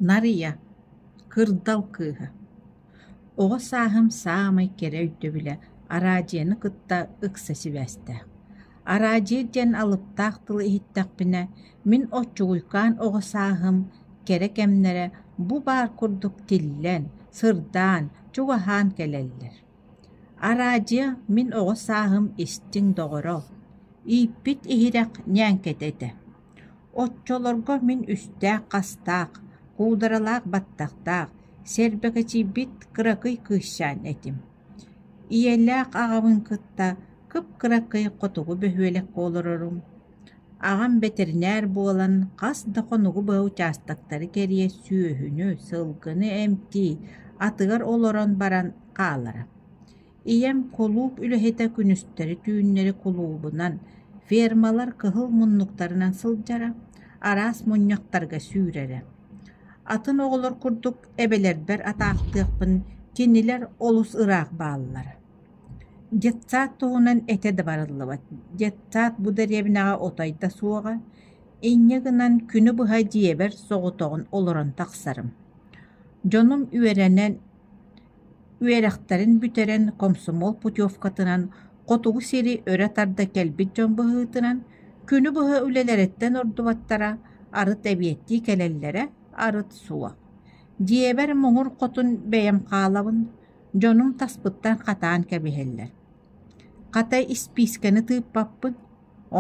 Нарыйа, кырдал кыыһа, оҕо сааһым саамай кэрэ өйдөбүлэ араадьыйаны кытта ыкса сибээстээх. Араадьыйа диэн алыптаах тылы иһиттэхпинэ, мин оччугуйкаан оҕо сааһым кэрэ кэмнэрэ бу баар курдук тиллэн, сырдаан, чугаһаан кэлэллэр. Араадьыйа мин оҕо сааһым истиҥ доҕоро, ииппит иһирэх ньээҥкэтэ этэ. Оччолорго мин үстээх-хастаах, куударалаах баттахтаах, сэрбэкэчийбит кыракый кыысчаан этим. Ийэлээх аҕабын кытта кып-кыракый хотугу бөһүөлэккэ олорорум. Аҕам бэтэринээр буолан хас да хонугу быһа учаастактары кэрийэ сүөһүнү, сылгыны эмтии, атыгар олорон баран хаалара. Ийэм кулууп үлэһитэ күнүстэри түүннэри кулуубунан, фермалар кыһыл муннуктарынан сылдьара, араас мунньахтарга сүүрэрэ. Атын оҕолор курдук эбэлэрбэр атаахтыахпын кинилэр олус ыраах бааллар. Детсад туһунан этэ да барыллыбат. Детсад бу дэриэбинэҕэ отой суоҕа, инньэ гынан күнү быһа дьиэбэр соҕотоҕун олорон тахсарым. Дьонум үөрэнэн Үөрэхтэрин бүтэрэн комсомол путевкатынан хотугу сири өрө тарда кэлбит дьон быһыытынан күнү быһа үлэлэриттэн ордубаттара арыт эбиэттии кэлэллэрэ арыт суох. Дьиэбэр муҥур хотун бэйэм хаалабын, дьонум таспыттан хатаан кэбиһэллэр Хата испиискэни тыыппаппын,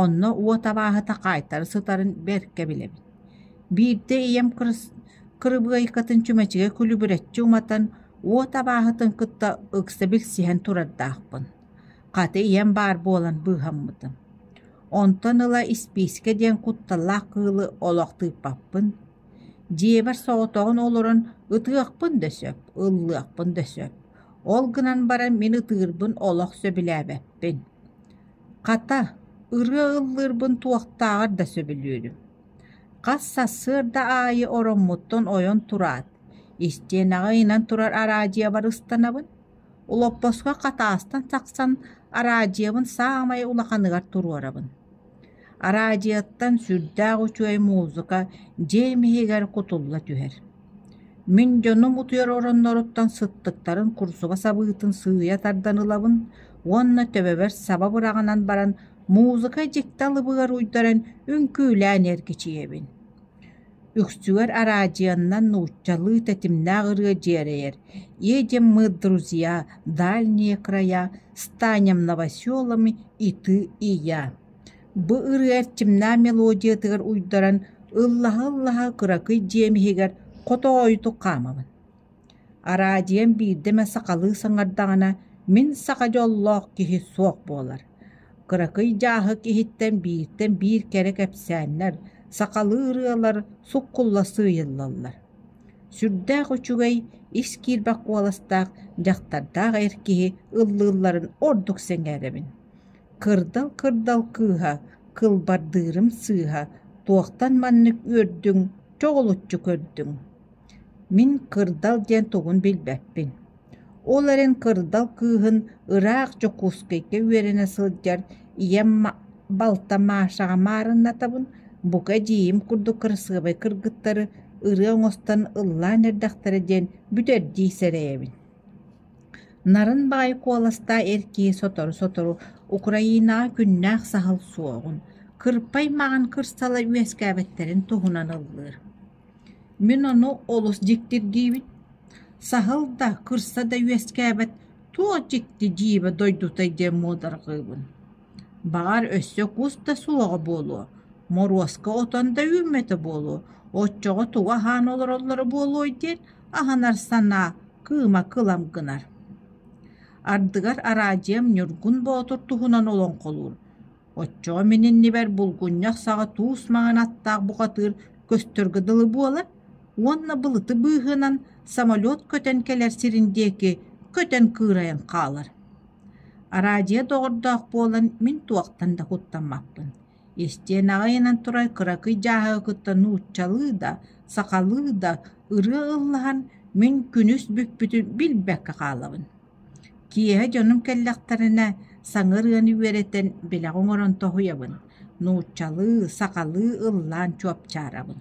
онно уот абааһыта хаайтара сытарын бэркэ билэбин. Биирдэ ийэм кырыбыайкатын чүмэчигэ күлүбүрэччи уматан, уот абааһытын кытта ыкса билсиһэн турардаахпын. Хата ийэм баар буолан быыһаммытым. Онтон ыла испиискэ диэн кутталлаах кыылы олох тыыппаппын. Дьиэбэр соҕотоҕун олорон ытыахпын да сөп, ыллыахпын да сөп Ол гынан баран мин ытыырбын олох сөбүлээбэппин. Хата, ырыа ыллыырбын туохтааҕар да сөбүлүүрүм. Хас сарсыарда аайы ороммуттан ойон тураат, истиэнэҕэ ыйынан турар араадьыйабар ыстанабын. Олоппоско хатаастан тахсан араадьыйабын саамай улаханыгар туруорабын Араадьыйаттан сүрдээх үчүгэй музыка дьиэм иһигэр кутулла түһэр. Мин дьонум утуйар оронноруттан сыттыктарын курсуга сабыытын сыыйа тардан ылабын уонна төбөбөр саба быраҕынан баран музыка дьикти алыбыгар уйдаран үҥкүүлээн эргичийэбин Үксүгэр араадьыйаннан нууччалыы тэтимнээх ырыа дьиэрэйэр «Е где мы, друзья, дальние края, станем новоселами и ты, и я». Бу ырыа эрчимнээх мелодиятыгар уйдаран ыллаһа-ыллаһа кыракый дьиэм иһигэр хотоойутук хаамабын Араадьыйам биирдэ эмэ сахалыы саҥардаҕына, мин саха дьоллоох киһи суох буолар. Кыракый дьааһык иһиттэн бииртэн биир кэрэ кэпсээннэр, сахалыы ырыалар суккулла сыыйыллаллар. Сүрдээх үчүгэй, ис киирбэх куоластаах, дьахтардаах эр киһи ыллыылларын ордук сэҥээрэбин. Кырдал-кырдал кыыһа, кылбардыырым сыыһа, туохтан маннык үөрдүҥ, чоҕулуччу көрдүҥ Мин кырдал диэн тугун билбэппин, ол эрэн кырдал кыыһын ыраах Дьокуускайга үөрэнэ сылдьар ийэм балта Машаҕа маарыннатабын, бука эдьиийим курдук кырасыабай кыргыттары ырыа оҥостон ыллаан эрдэхтэрэ диэн бүтэрдии сэрэйэбин. Нарын баҕайы куоластаах эр киһи сотору-сотору Украинаҕа күннээх саһыл суоҕун, кырпай маҕан кырсала үөскээбиттэрин туһунан ыллыыр Мин ону олус дьиктир диибин, саһыл да, кырса да үөскээбэт туох дьикти дьиибэ дойдутай диэн муодарҕыыбын, баҕар өссө кус да суоҕа буолуо, моруоска отон да үүммэтэ буолуо, оччоҕо тугу аһаан олороллоро буолуой диэн аһынар санаа кыыма кылам гынар. Ардыгар араадьыйам Ньургун Боотур туһунан олоҥхолуур Оччоҕо мин иннибэр булгунньах саҕа туус маҥан аттаах бухатыыр көстөргө дылы буолар уонна былыты быыһынан самолет көтөн кэлэр сирин диэки көтөн кыырайан хаалар. Араадьыйа доҕордоох буолан мин туохтан да куттаммаппын. Истиэн аҕайынан турар кыракый дьааһыга кытта нууччалыы да, сахалыы да ырыа ыллаһан мин күнүс бүппүтүн билбэккэ хаалабын Киэһэ дьонум кэллэхтэринэ, саҥар ыаны үөрэтэн, бэлэх оҥорон тоһуйабын, нууччалыы, сахалыы ыллаан чуопчаарабын